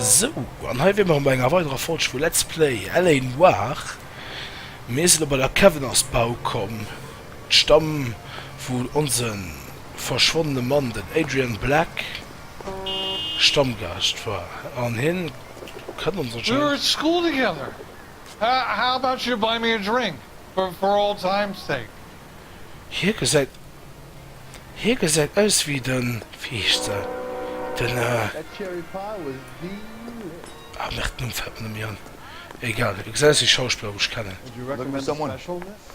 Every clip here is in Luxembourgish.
Sou, an hei wier mer bei enger weiderer Folg vu Let's Play LA Noire. Mir sinn elo bei der Kevenance Bau komm, d'Stamm wou onse verschwonnene Mann, den Adrian Black, Stammgaascht war, an hien kënnt ons anscheinend. Hie gesäit. Hie gesäit aus wéi de Viischte, den. Ah merde, Numm fält mer net méi an. Egal, e gesäit aus wéi e Schauspiller, wou ech kennen.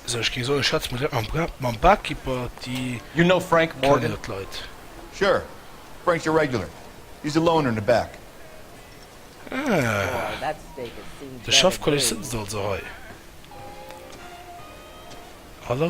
Esou, ech géing soen, ech schwätze mat direkt mam Barkeeper. Déi kennen jo d'Leit. Ah, de Schaff Collis sëtzt also hei. Hallo.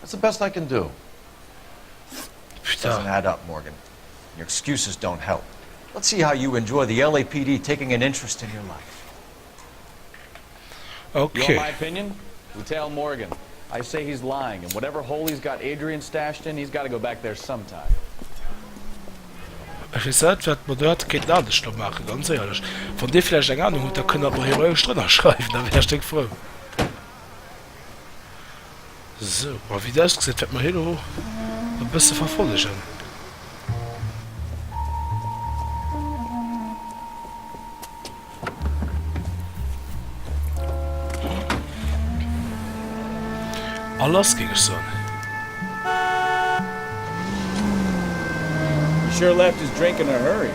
That's the best I can do. Pfft, doesn't add up, Morgan. Your excuses don't help. Let's see how you enjoy the LAPD taking an interest in your life. You want my opinion? You tell Morgan. I say he's lying and whatever hole he's got Adrian stashed in, he's gotta go back there sometime. Ech weess net, wat mer do hätte kéinten anescht do maachen, ganz éierlech. Wann Dir vläicht eng Anung hutt, da kënnt Der et mer hiroesch drënnerschreiwen, da wär ech déck frou. Sou, a wéi et ausgesäit wäert mer hie lo e bësse verfollegen. A lass géing ech soen. He sure left his drink in a hurry.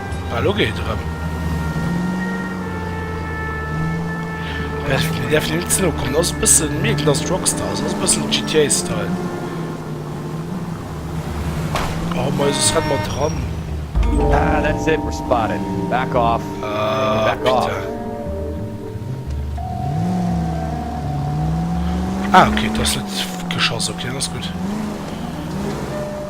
Well lo geet et erëm. Däerf däerf een net ze no kommen. Ass e bëssen mee et lasst Rockstar, ass e bëssen GTA Style. Oh mais es rennt mer dran. Ah that's it we're spotted back off Ah back off putain. Ah ok et ass net geschoss ok dann ass gutt.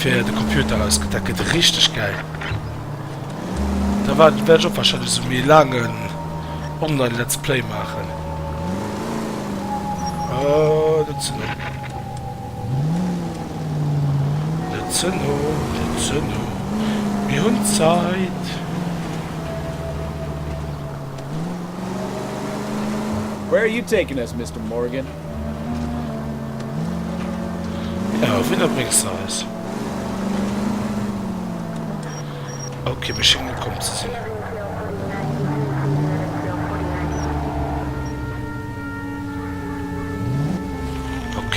fir de Computer ausgëtt. Dat gëtt richteg gäil. Da war wäert ech och wahrscheinlech esou méi laangen online Let's Play maachen. Oh, net ze no. Net ze no, net ze no. Mir hunn Zäit. Where are you taking us, Mister Morgan? Ja, wéi der bréngs de eis? Ok, mir schéngen ukomm ze sinn. Ok.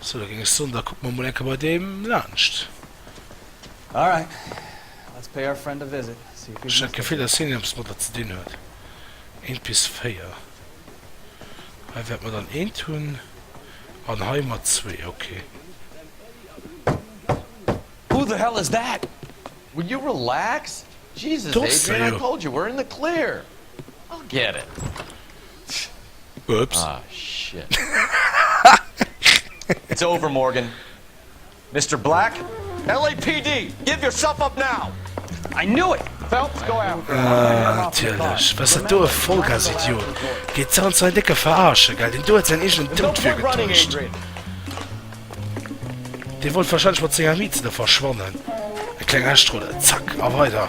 Sou, da géing ech soen, da kucke mer emol eng Kéier bei deem laanscht. All right, let's pay our friend a visit, see if he's mistaken. Ech hat d'Gefill, dass hien eppes mat der ze dinn huet. Eent bis véier. Hei wäerte mer dann eent hunn an hei mat zwee. Okay. Who the hell is that? Will you relax? Jesus, Adrian, I told you, we're in the clear. I'll get it. Ups. Ah, shit. It's over, Morgan. Mister Black? LAPD, give yourself up now! I knew it! Phelps, go after him. Ah, natierlech. Wess dat do e Vollgasidiot geet zanter säin décke Verarsche, gell? Deen do huet säin eegenen Doud virgetäuscht. Dee wollt warscheinlech mat senger Miez do verschwannen. E kleng Aschtrudel, zack, a weider.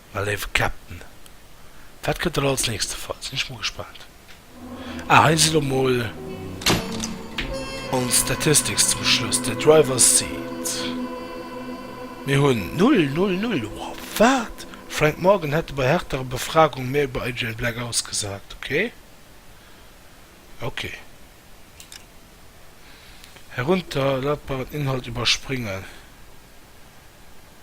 Mä léiwe Captain, wat gëtt dann als nächste Fall? Sinn ech mol gespaant. Ah, hei si lo mol ons Statistics zum Schluss, de Driver's Seat, mir hunn null, null, null. Wow, wat? Frank Morgan hätte bei härterer Befragung méi iwwer Adrian Black ausgesat. Okay, okay. Herunterladbaren Inhalt iwwerspringen.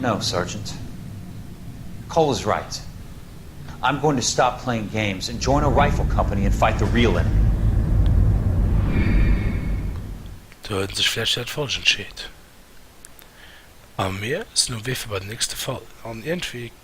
No, Sergeant. Cole is right. I'm going to stop playing games and join a rifle company and fight the real enemy. Do huet en sech vläicht fir dat Falscht entscheet. A mir sinn um Wee fir bei den nächste Fall. An iergendwéi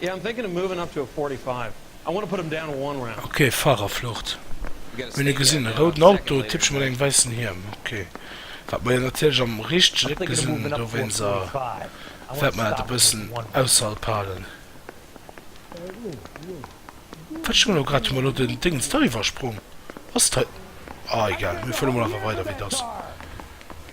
Yeah I'm thinking of moving up to a forty five I wanna put em down one round. Ok Fahrerflucht hun e gesin e rouden Auto typsch mat engem weissen Hiem ok wat mer jo natierlech am richtegen Eck gesin hun dowéinst a wärt mer dat e bëssen ausserhalb halen wat schon elo grad hun mer elo den Dings da iwwersprong ass et hei ah egal mir fueren emol einfach weider wéi et ass.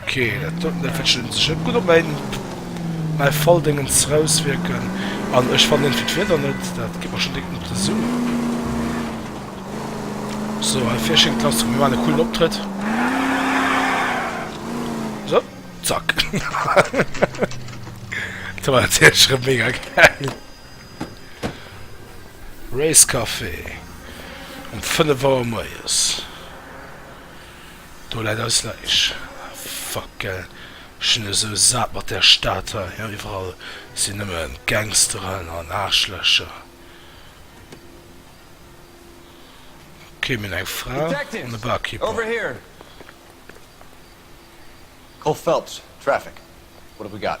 Ok dat soten dat wëtschen un sech net gudd op mäin mäi Falldéngens raus wierken an ech fannen irgendwie d'Wieder net dat geet mer schon direkt op de Sou. So hei vir schéngt lass mir maan e coolen Optrëtt so zack dat war natierlech erem mega gäil Racecafé um 5 Auer moies. Do läit eis Läich. Fuck ell, ech sinn esou sat mat där Stad hei. Iwwerall sinn nëmme Gangsteren an Aarschlächer. Kee minn eng Fra an e Barkeeper. Koch Phelps, Traffic, What have we got?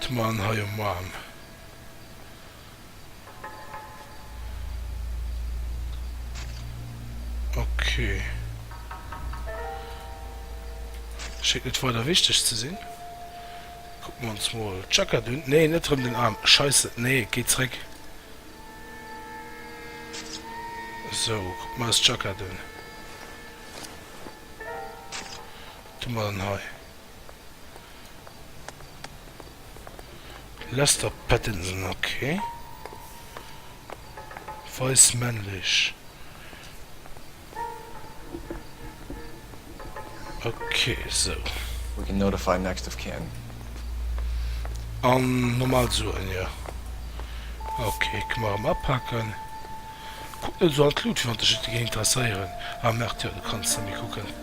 D'Man hei um Arm. Ok. Schéngt net weider wichteg ze sinn. Kucken mer ons mol d'Jackett un. Nee, net erëm den Arm. Scheisse, nee, et geet zréck. Sou, kucken mer eis d'Jackett un. Doe mer dann hei Lester Pattinson, ok. Weis, männlech, ok sou. We can notify next of kin. An normal Suen, jo ok. Kënne mer erëm apaken. Kuck net esou an d'Lut, wéi wann dech et géing interesséieren. Ah merde, jo du kanns nemmi kucken.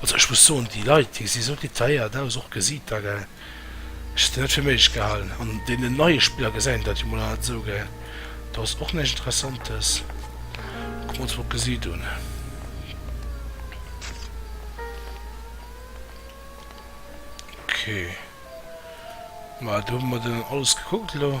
Also ech muss soen, déi Leit déi si sou detailléiert aus, och gesiit der, gell. Ech hätt se net fir méiglech gehalen. An deenen neie Spiller gesäit een dat jo mol an, esou, gell. Do ass och näischt Interessantes. Kucken mer ons mol d'Gesiit un. Okay, ma do hu mer dann alles gekuckt elo.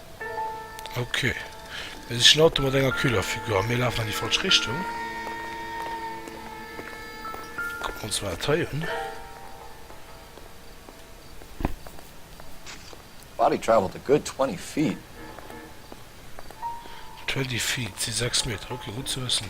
Ok et ass een Auto mat enger kühler Figur a mir lafen an déi falsch Richtung. Kucken mer ons mol dat hei un. Body travelled a good 20 feet. 20 feet si 6 Meter, ok gutt ze wëssen.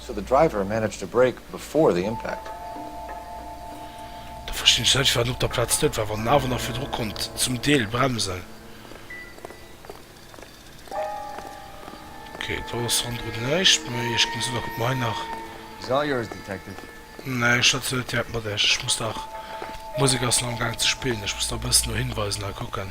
So the driver managed to brake before the impact. Da verstinn ech net wéi en op der Plaz dout war, wann en awer nach virdru konnt zum Deel bremsen. Ok, do ass ronderun näischt méi. Ech ginn esou nach kucken, ob mer hei nach. It's all yours, Detective. Nee, ech schwätzen net direkt mat iech. Ech muss nach, d'Musek ass nach am Gaang ze spillen, ech muss nach e bëssen no Hinweisen hei kucken.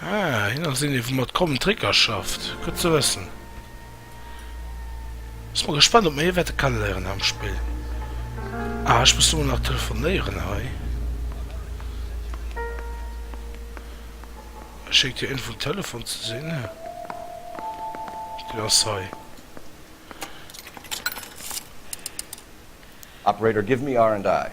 Ah, hien ass een, dee vu mat Common Tricker schafft. Gutt ze wëssen. Sinn mol gespannt, ob mer hie wäerte kenneléieren hei am Spill. Ah, ech muss emol nach telefonéieren hei. E schéngt jo een vum Telefon ze sinn. Deen ass hei. Operator, give me R&I.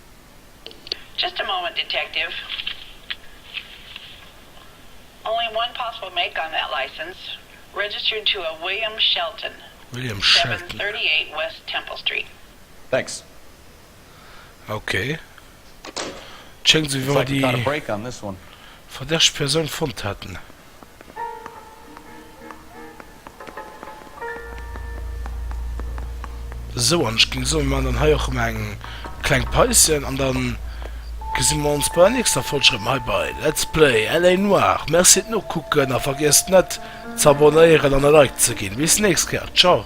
Just a moment, Detective. Only one possible make on that license, registered to a William Shelton, William Shelton. 738 West Temple Street. Thanks. Ok. Et schéngt esou wéi wa mer déi verdächteg Persoun fonnt hätten. Sou, an ech géing soen, mir maachen dann hei och emol eng kleng Paischen an da gesi mer ons bei der nächster Folg erëm hei bei Let's Play LA Noire. Merci fir d'Nokucken a vergiesst net z'abonnéieren an e Like ze ginn. Bis nächst Kéier, ciao!